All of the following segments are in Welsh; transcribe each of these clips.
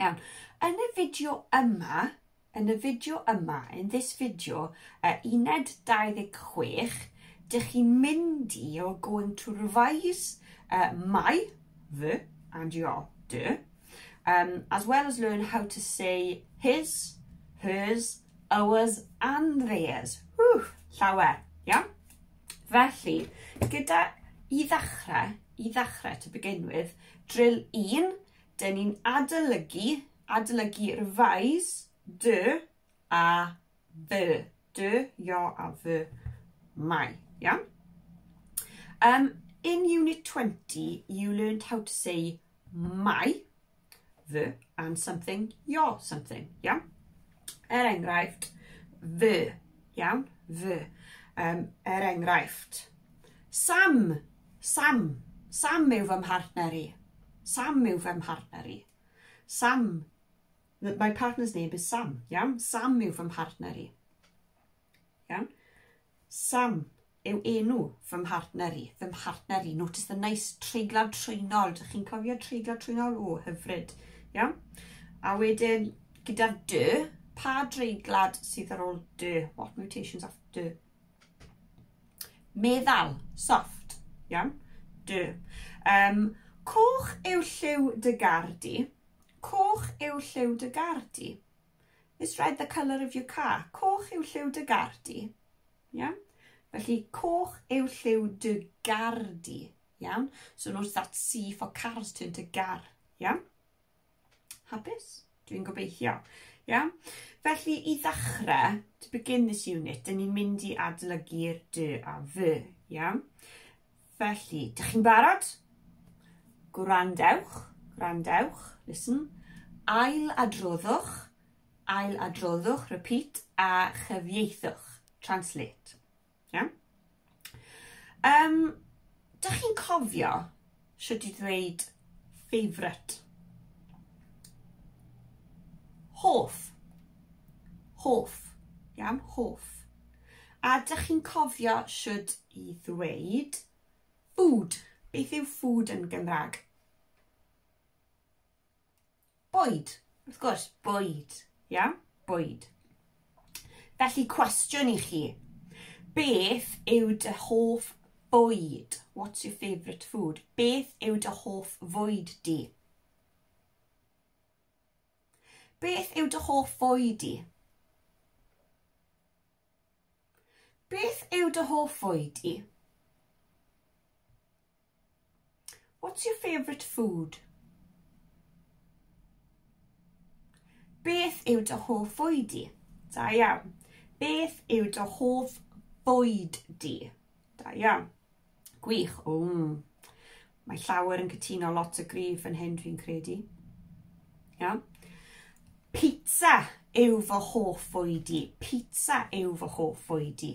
Iawn, yn y fideo yma, yn y fideo yma, in this video, uh, uned 26, dych chi'n mynd i, you're going to revise uh, my, the, and your, the, um, as well as learn how to say his, hers, ours and theirs. Whew, llawer, iawn? Felly, gyda i ddechrau, i ddechrau to begin with, drill 1, Dyn ni'n adolygu, adolygu, revise, dy a fy. Dy, yo a fy, my. Iawn? Um, in Unit 20, you learned how to say my, fy, and something, your something. Iawn? Er enghraifft, fy. Iawn? Fy. Um, er enghraifft. Sam Sam. Sam yw fy mhartner i. Sam yw fy mhartner i. Sam. My partner's name is Sam. Iawn? Sam yw fy mhartner i. Iawn? Sam yw enw fy mhartner i. Fy mhartner i. Notice the nice treiglad trwynol. Dych chi'n cofio treiglad trwynol? O, hyfryd. Iawn? A wedyn, gyda'r dy, pa dreiglad sydd ar ôl dy? What mutations after dy? Meddal, soft, iawn? D. Um, coch yw lliw dy gar di. Coch yw lliw dy gar di. Is red the colour of your car? Coch yw lliw dy gar di. Iawn? Felly, coch yw lliw dy gar di. Iawn? So notice that C for cars turned to gar. Iawn? Hapus? Dwi'n gobeithio. Ia? Felly, i ddechrau, to begin this unit, dyn ni'n mynd i adolygu'r dy a fy. Ia? Felly, dych chi'n barod? Gwrandewch, gwrandewch, listen. Ail adroddwch, ail adroddwch, repeat, a chyfieithwch, translate. Iawn? Um, dych chi'n cofio sut i ddweud favourite? Hoff. Hoff. Iawn, hoff. A dych chi'n cofio sut i ddweud food? Beth yw food yn Gymraeg? Bwyd. Wrth gwrs, bwyd. Ia? Bwyd. Felly, cwestiwn i chi. Beth yw dy hoff bwyd? What's your favourite food? Beth yw dy hoff fwyd di? Beth yw dy hoff fwy di? Beth yw dy hoff fwy di? What's your favourite food? Beth yw dy hoff fwyd di? Da iawn. Beth yw dy hoff bwyd di? Da iawn. Gwych. Ww. Mae llawer yn cytuno lot o grif yn hyn dwi'n credu. Iawn. Pizza yw fy hoff fwyd i. Pizza yw fy hoff fwyd i.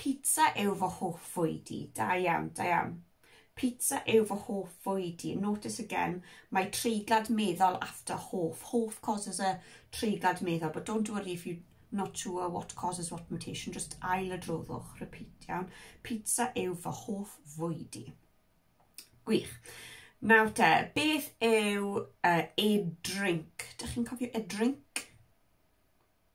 Pizza yw fy hoff fwyd i. Da iawn, da iawn. Pizza yw fy hoff fwyd i. Notice again, mae treiglad meddal after hoff. Hoff causes a treiglad meddal, but don't worry if you not sure what causes what mutation, just ail y droddwch, repeat, iawn. Pizza yw fy hoff fwyd i. Gwych. Nawr te, beth yw uh, a drink? Dych chi'n cofio a drink?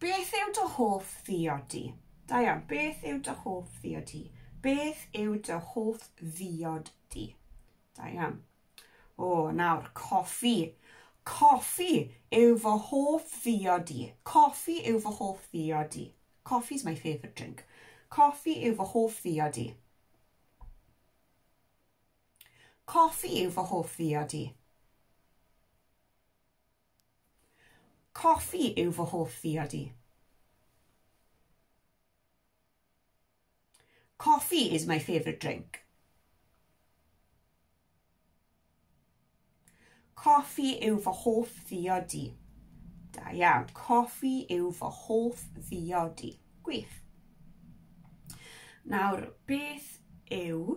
Beth yw dy hoff ddiodi? Da iawn. Beth yw dy hoff ddiodi? Beth yw dy hoff ddiod di? Da iawn. O, nawr, coffi. Coffi yw fy hoff ddiod i. Coffi yw fy hoff ddiod i. Coffi is my favourite drink. Coffi yw fy hoff ddiod i. Coffi yw fy hoff ddiod i. Coffi yw fy hoff ddiod i. Coffee is my favourite drink. Coffi yw fy hoff ddiodi. Da iawn. Coffi yw fy hoff ddiodi. Gwych. Nawr, beth yw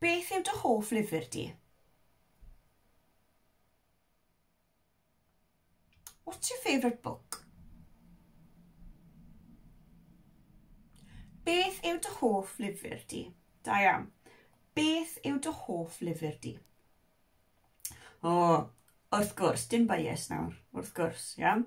Beth yw dy hoff lyfr di? What's your favourite book? Beth yw dy hoff lyfr di? Da iawn. Beth yw dy hoff lyfr di? O, wrth gwrs, dim bias nawr, wrth gwrs, iawn.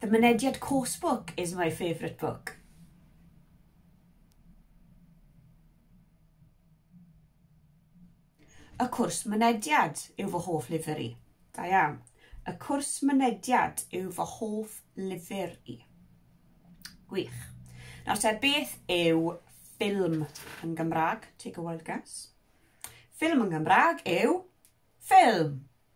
The Mynediad Course Book is my favourite book. Y Cwrs Mynediad yw fy hoff lyfr i. Da iawn. Y Cwrs Mynediad yw fy hoff lyfr i. Gwych. Nawr te, beth yw ffilm yn Gymraeg? Take a wild guess. Ffilm yn Gymraeg yw ffilm.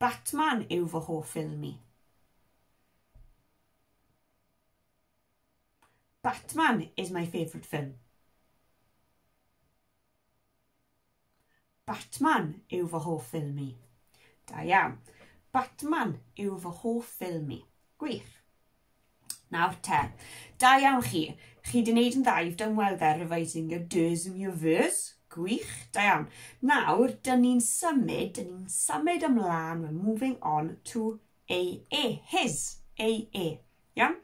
Batman yw fy hoff ffilm i. Batman is my favourite film. Batman yw fy hoff ffilm i. Da iawn. Batman yw fy hoff ffilm i. Gwych. Nawr te, da iawn chi. Chi wedi gwneud yn dda, you've done well there, revising your do's and your verse. Gwych, da iawn. Nawr, dyn ni'n symud, dyn ni'n symud ymlaen, we're moving on to a e, his, a e. Iawn?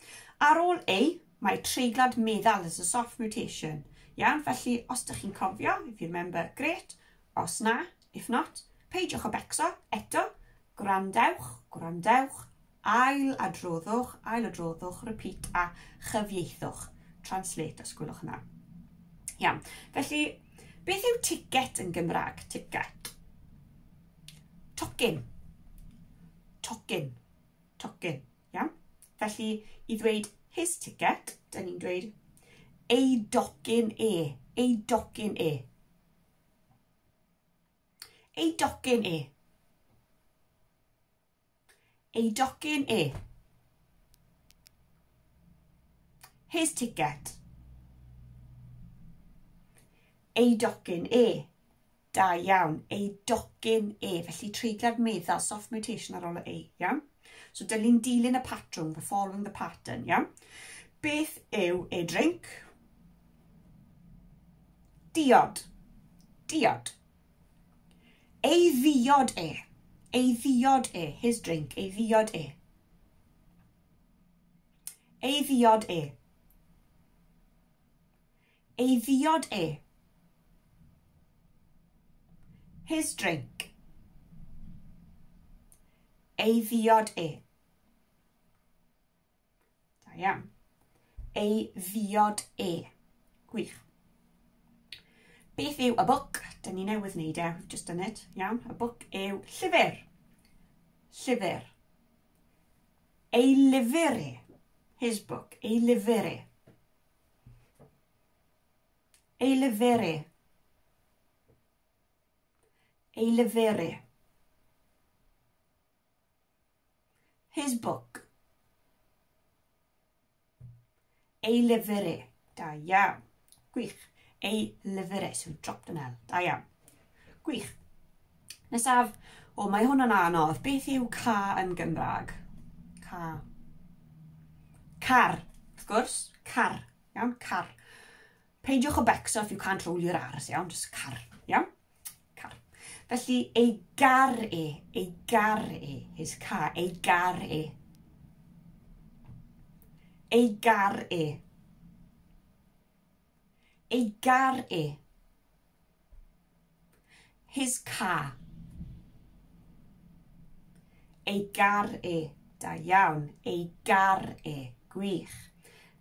Ar ôl a, mae treiglad meddal as a soft mutation. Iawn, felly, os ydych chi'n cofio, if you remember, great. Os na, if not, peidiwch o becso, eto, gwrandewch, gwrandewch, Ail-adroddwch, ail-adroddwch, repeat a chyfieithwch, translate os gwelwch yn dda. Iawn, felly beth yw ticket yn Gymraeg? Ticket. Tocyn. Tocyn. Tocyn. Iawn? Felly, i ddweud his ticket, dyn ni'n dweud ei docyn e. Ei docyn e. Ei docyn e. Ei docyn e. His ticket. Ei docyn e. Da iawn. Ei docyn e. Felly treiglad meddal, soft mutation ar ôl y e. Iawn? So dylun dilyn y patrwm, the following the pattern. Iawn? Beth yw e drink? Diod. Diod. Ei ddiod e! Ei ddiod e! His drink. Ei ddiod e! Ei ddiod e! Ei ddiod e! His drink. Ei ddiod e! Da iawn. Ei ddiod e. Gwych. Beth yw a book? Dyn ni newydd wneud e, we've just done it. Iawn, a book yw llyfr. Llyfr. Ei lyfr e. His book. Ei lyfr e. Ei lyfr e. Ei lyfr e. His book. Ei lyfr e. Da iawn. Gwych. Ei lyfr e. So dropped an L. Da iawn. Gwych. Nesaf. O, mae hwn yn anodd. Beth yw ca yn Gymraeg? Ca. Car. Wrth gwrs. Car. Iawn, car. Peidiwch o becso if you can't roll your R's, iawn? Just car, iawn? Car. Felly, ei gar e, ei gar e, his car, ei gar e. Ei gar e. Ei gar e. His car. Ei gar e. Da iawn. Ei gar e. Gwych.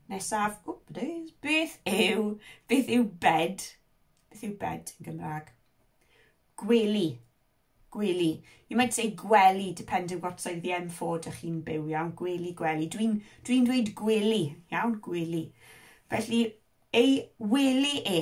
Nesaf, wp, days, beth yw, beth yw bed? Beth yw bed yn Gymraeg? Gwely. Gwely. You might say gwely, depending what side of the M4 dych chi'n byw, iawn? Gwely, gwely. Dwi'n dwi, dweud gwely, iawn? Gwely. Felly, ei wely e.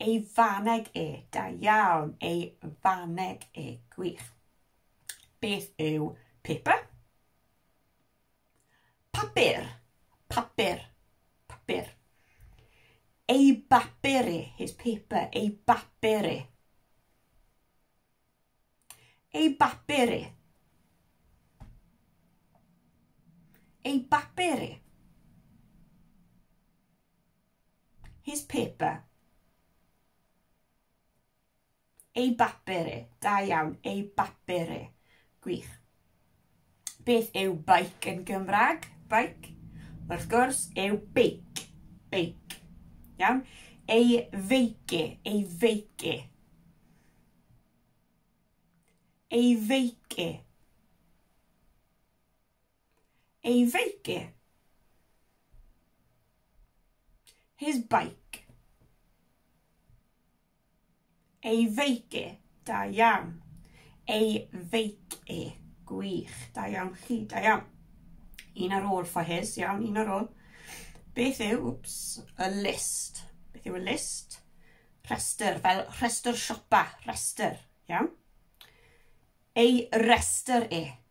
Ei faneg e, da iawn, ei faneg e, gwych. Beth yw paper? Papur, papur, papur. Ei bapur e, his paper, ei bapur e. Ei bapur e. Ei bapur e. His paper. Ei bapur e. Da iawn. Ei bapur e. Gwych. Beth yw bike yn Gymraeg? Bike. Wrth gwrs, yw beic. Beic. Iawn? Ei feice. Ei feice. Ei feice. Ei feic e. His bike. Ei feic e. Da iawn. Ei feic e. Gwych. Da iawn chi. Da iawn. Un ar ôl for his. Iawn, un ar ôl. Beth yw, whoops, a list? Beth yw a list? Rhestr, fel rhestr siopa, rhestr, iawn? Ei rhestr e.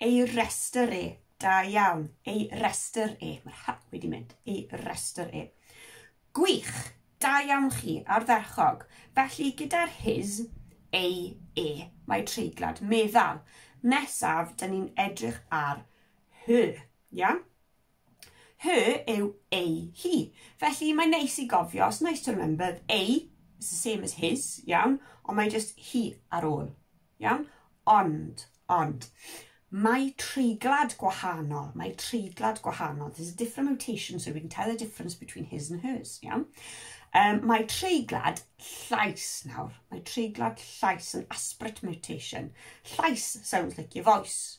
Ei restr e. Da iawn. Ei restr e. Mae'r hy wedi mynd. Ei restr e. Gwych! Da iawn chi, ardderchog. Felly, gyda'r his, ei, e, mae treiglad meddal. Nesaf, dyn ni'n edrych ar her. Iawn? Her yw ei, hi. Felly mae'n neis i gofio, it's nice to remember, ei is the same as his, iawn, ond mae just hi ar ôl, iawn? Ond, ond, mae treiglad gwahanol, mae treiglad gwahanol. There's a different mutation, so we can tell the difference between his and hers, iawn? Um, mae treiglad llais nawr. Mae treiglad llais yn aspirate mutation. Llais sounds like your voice,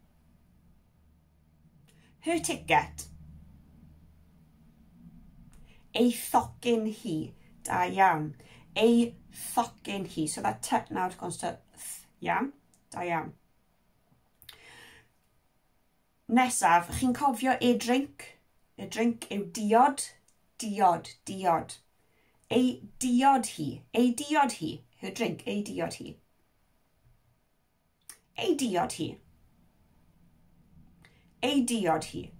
Her ticket. Ei thocyn hi. Da iawn. Ei thocyn hi. So that t now wrth gwrs to th. Iawn? Da iawn. Nesaf, chi'n cofio e drink? E drink yw diod. Diod, diod. Ei diod hi. Ei diod hi. Her drink, ei diod hi. Ei diod hi. Ei diod hi.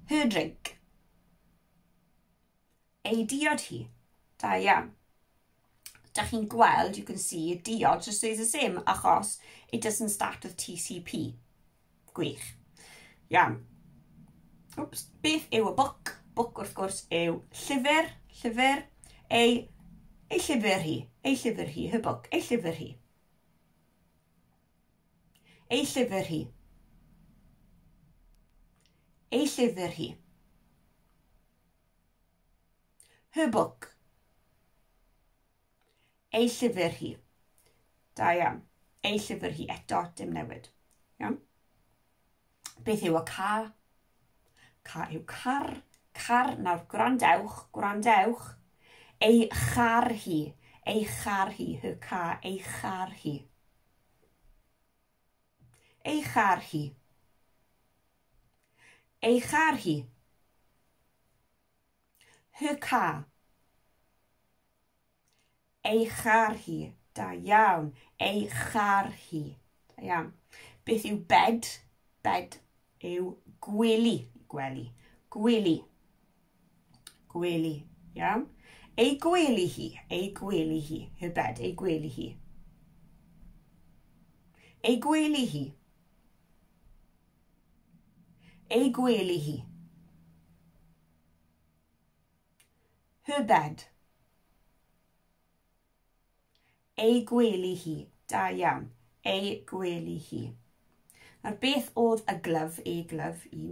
Her drink. Ei diod hi. Da iawn. Da chi'n gweld, you can see, diod just stays the same achos it doesn't start with TCP. Gwych. Iawn. Oops. Beth yw y book? Book wrth gwrs yw llyfr, llyfr, ei, ei llyfr hi, ei llyfr hi, her book, ei llyfr hi. Ei llyfr hi. Ei llyfr hi. Her book. Ei llyfr hi. Da iawn. Ei llyfr hi eto, dim newid. Iawn? Beth yw y ca? Ca yw car. Car, nawr gwrandewch, gwrandewch. Ei char hi. Ei char hi, her ca, ei char hi. Ei char hi. Ei char hi. Her car. Ei char hi. Da iawn. Ei char hi. Da iawn. Beth yw bed? Bed yw gwely. Gwely. Gwely. Gwely. Iawn. Ei gwely hi. Ei gwely hi. Her bed. Ei gwely hi. Ei gwely hi. Ei gwely hi. Her bed. Ei gwely hi. Da iawn. Ei gwely hi. Nawr beth oedd y glyf, e glyf, i?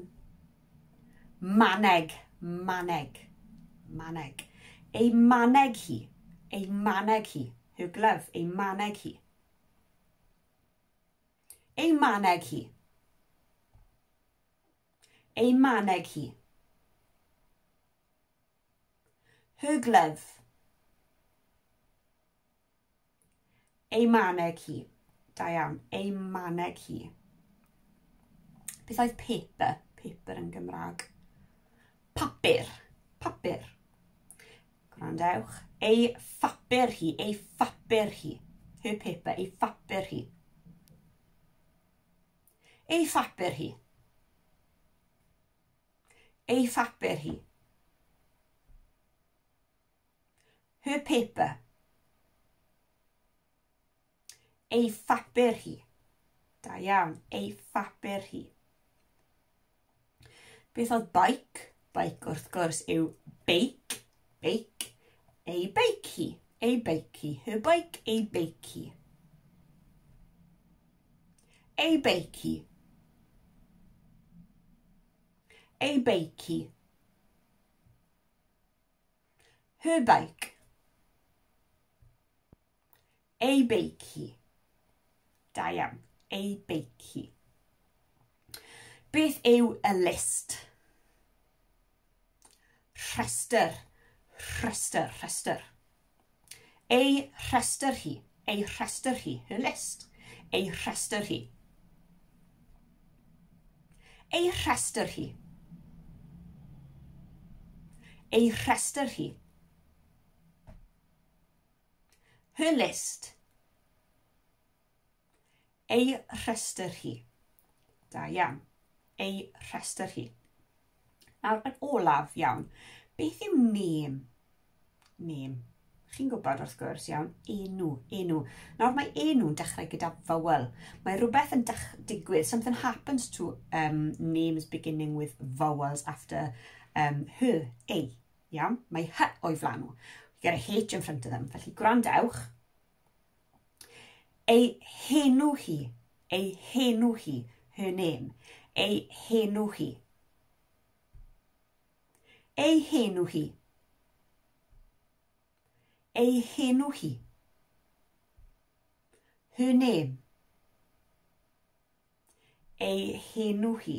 Maneg, maneg, maneg. Ei maneg hi, ei maneg hi. Her glove, ei maneg hi. Ei maneg hi. Ei maneg hi. Her glove. Ei maneg hi. Da iawn. Ei maneg hi. Beth oedd paper? Paper yn Gymraeg. Papur. Papur. Gwrandewch. Ei phapur hi. Ei phapur hi. Her paper. Ei phapur hi. Ei phapur hi. Ei phapur hi. Her paper. Ei phapur hi. Da iawn. Ei phapur hi. Beth oedd bike? Bike wrth gwrs yw beic, beic, ei beic hi, ei beic hi, her bike, ei beic hi. Ei beic hi. Ei beic hi. Her bike. Ei beic hi. Da iawn. Ei beic hi. Beth yw y list? Rhestr. Rhestr. Rhestr. Ei rhestr hi. Ei rhestr hi. Her list. Ei rhestr hi. Ei rhestr hi. Ei rhestr hi. Her list. Ei rhestr hi. Da iawn. Ei rhestr hi. Nawr, yn olaf iawn, beth yw name? Name. Chi'n gwybod wrth gwrs, iawn, enw, enw. Nawr mae enw'n dechrau gyda vowel. Mae rhywbeth yn digwydd, something happens to um, names beginning with vowels after um, her, ei, Iawn? Mae hy o'i flan nhw. We get a H in front of them. Felly gwrandewch. Ei henw hi. Ei henw hi. Her name. Ei henw hi. Ei henw hi. Ei henw hi. Her name. Ei henw hi.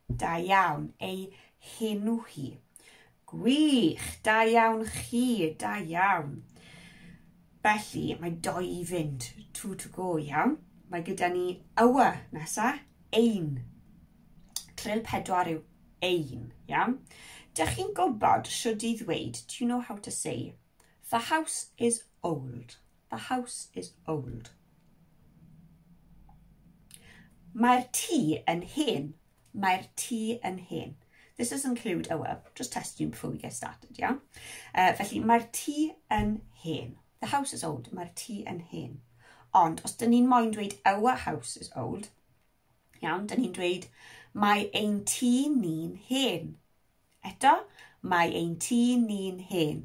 Da iawn. Ei henw hi. Gwych! Da iawn chi. Da iawn. Felly, mae doi i fynd. Two to go, iawn. Mae gyda ni ywa nesa. Ein. Trill pedwar yw ein, iawn. Dych chi'n gwybod siwrd i ddweud, do you know how to say, the house is old. The house is old. Mae'r tŷ yn hen. Mae'r tŷ yn hen. This does include, oh well, just test you before we get started, yeah? Uh, felly, mae'r tŷ yn hen. The house is old. Mae'r tŷ yn hen. Ond, os dyn ni'n moyn dweud our house is old, iawn, dyn ni'n dweud mae ein tŷ ni'n hen. Eto, mae ein tŷ ni'n hen.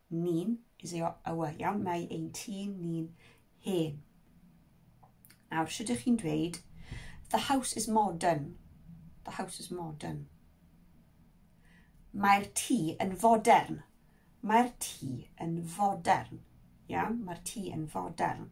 Ni'n, is ei awyr iawn, mae ein tîn ni'n hen. Nawr, sut ydych chi'n dweud, the house is modern. The house is modern. Mae'r tŷ yn fodern. Mae'r tŷ yn fodern. Iawn, mae'r tŷ yn fodern.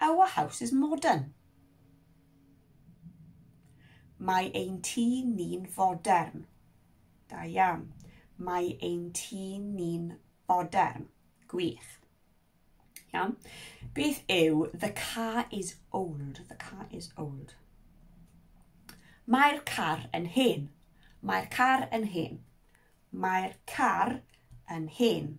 Our house is modern. Mae ein tŷ ni'n fodern. Da iawn. Mae ein tŷ ni'n fodern. Gwych. Iawn. Beth yw the car is old? The car is old. Mae'r car yn hen. Mae'r car yn hen. Mae'r car yn hen.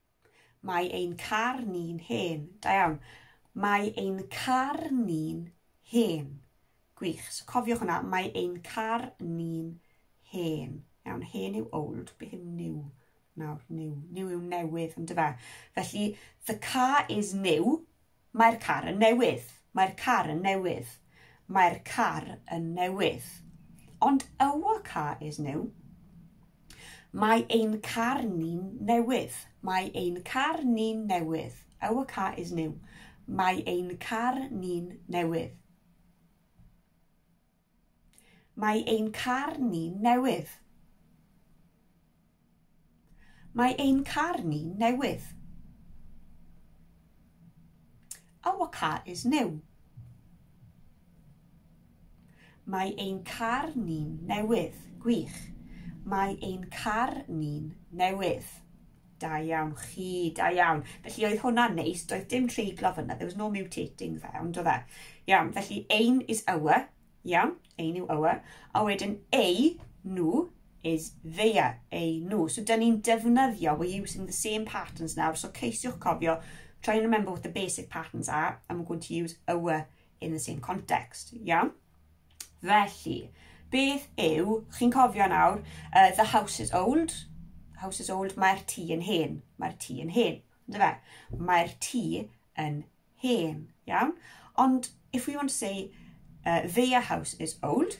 Mae ein car ni'n hen. Da iawn. Mae ein car ni'n hen. Gwych. So cofiwch hwnna. Mae ein car ni'n hen. Iawn, hen yw old, beth yw new? Nawr, new. New yw newydd, yn dyfa. Felly, the car is new, Mae'r car yn newydd. Mae'r car yn newydd. Mae'r car yn newydd. Ond our car is new. Mae ein car ni'n newydd. Mae ein car ni'n newydd. Our car is new. Mae ein car ni'n newydd. Mae ein car ni'n newydd. Mae ein car ni'n newydd. Our car is new. Mae ein car ni'n newydd. Gwych. Mae ein car ni'n newydd. Da iawn chi, da iawn. Felly oedd hwnna'n neis, doedd dim treiglo fyna, there was no mutating fe, ond oedd e. Iawn, felly ein is our, iawn, ein yw our, a wedyn ei, nhw, is theia, ei, nhw. So dyn ni'n defnyddio, we're using the same patterns nawr, so ceisiwch cofio, try and remember what the basic patterns are, and we're going to use our in the same context, iawn? Felly, beth yw, chi'n cofio nawr, uh, the house is old, house is old, mae'r tŷ yn hen, mae'r tŷ yn hen, ynddo fe? Mae'r tŷ yn hen, iawn? Ond if we want to say uh, their house is old,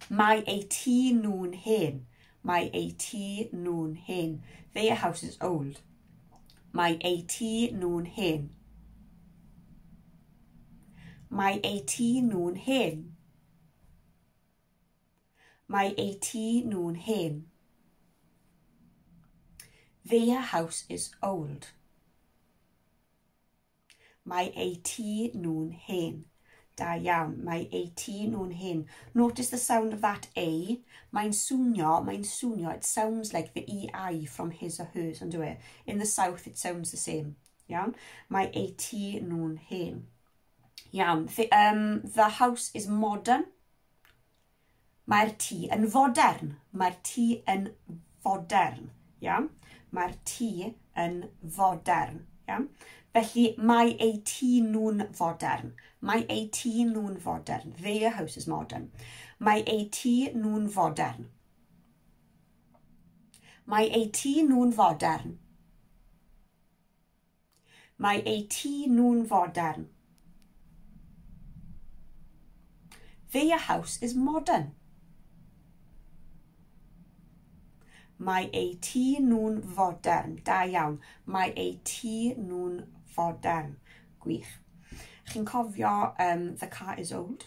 mae ei tŷ nhw'n hen, mae ei tŷ nhw'n hen. Their house is old. Mae ei tŷ nhw'n hen. Mae eu tŷ nhw'n hen. Mae eu tŷ nhw'n hen. Their house is old. Mae eu tŷ nhw'n hen. Da iawn. Mae eu tŷ nhw'n hen. Notice the sound of that A. Mae'n swnio, mae'n swnio. It sounds like the EI from his or hers, ond dwi. E? In the south it sounds the same. Iawn? Mae eu tŷ nhw'n hen. Iawn. The, um, the house is modern. Mae'r tŷ yn fodern. Mae'r tŷ yn fodern. Iawn? Mae'r tŷ yn fodern. Iawn? Felly mae eu tŷ nhw'n fodern. Mae eu tŷ nhw'n fodern. Their house is modern. Mae eu tŷ nhw'n fodern. Mae eu tŷ nhw'n fodern. Mae eu tŷ nhw'n fodern. Their house is modern. Mae eu tŷ nhw'n fodern. Da iawn. Mae eu tŷ nhw'n fodern. Gwych. Chi'n cofio um, the car is old?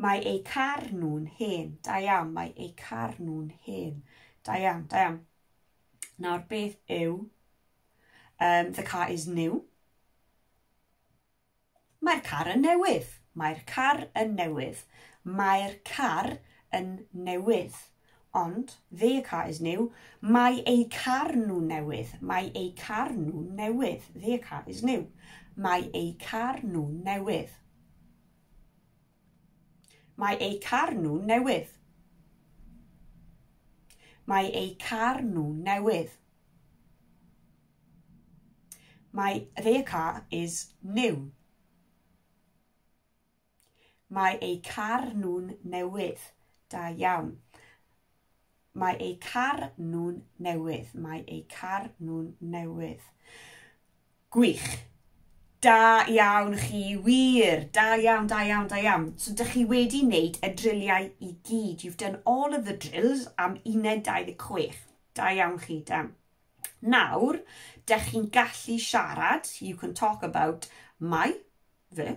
Mae eu car nhw'n hen. Da iawn, mae eu car nhw'n hen. Da iawn, da iawn. Nawr, beth yw um, the car is new? Mae'r car yn newydd. Mae'r car yn newydd. Mae'r car yn newydd. Ond, their car is new. Mae eu car nhw newydd. Mae eu car nhw newydd. Their car is new. Mae eu car nhw newydd. Mae eu car nhw'n newydd. Mae eu car nhw'n newydd. My their car is new. Mae eu car nhw'n newydd. Da iawn. Mae eu car nhw'n newydd. Mae eu car nhw'n newydd. Gwych. Da iawn chi, wir. Da iawn, da iawn, da iawn. So dych chi wedi wneud y driliau i gyd. You've done all of the drills am uned 26. Da iawn chi, da. Nawr, dych chi'n gallu siarad, you can talk about my, fy,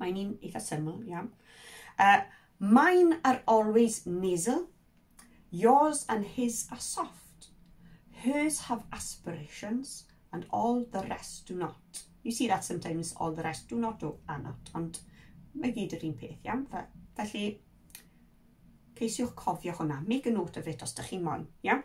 Mae'n un eitha syml iawn. Uh, mine are always nasal, yours and his are soft, hers have aspirations, and all the rest do not. You see that sometimes all the rest do not do are not, ond mae gyd yr un peth, iawn? Felly, ceisiwch cofio hwnna. Make a note of it os da chi'n moyn, iawn?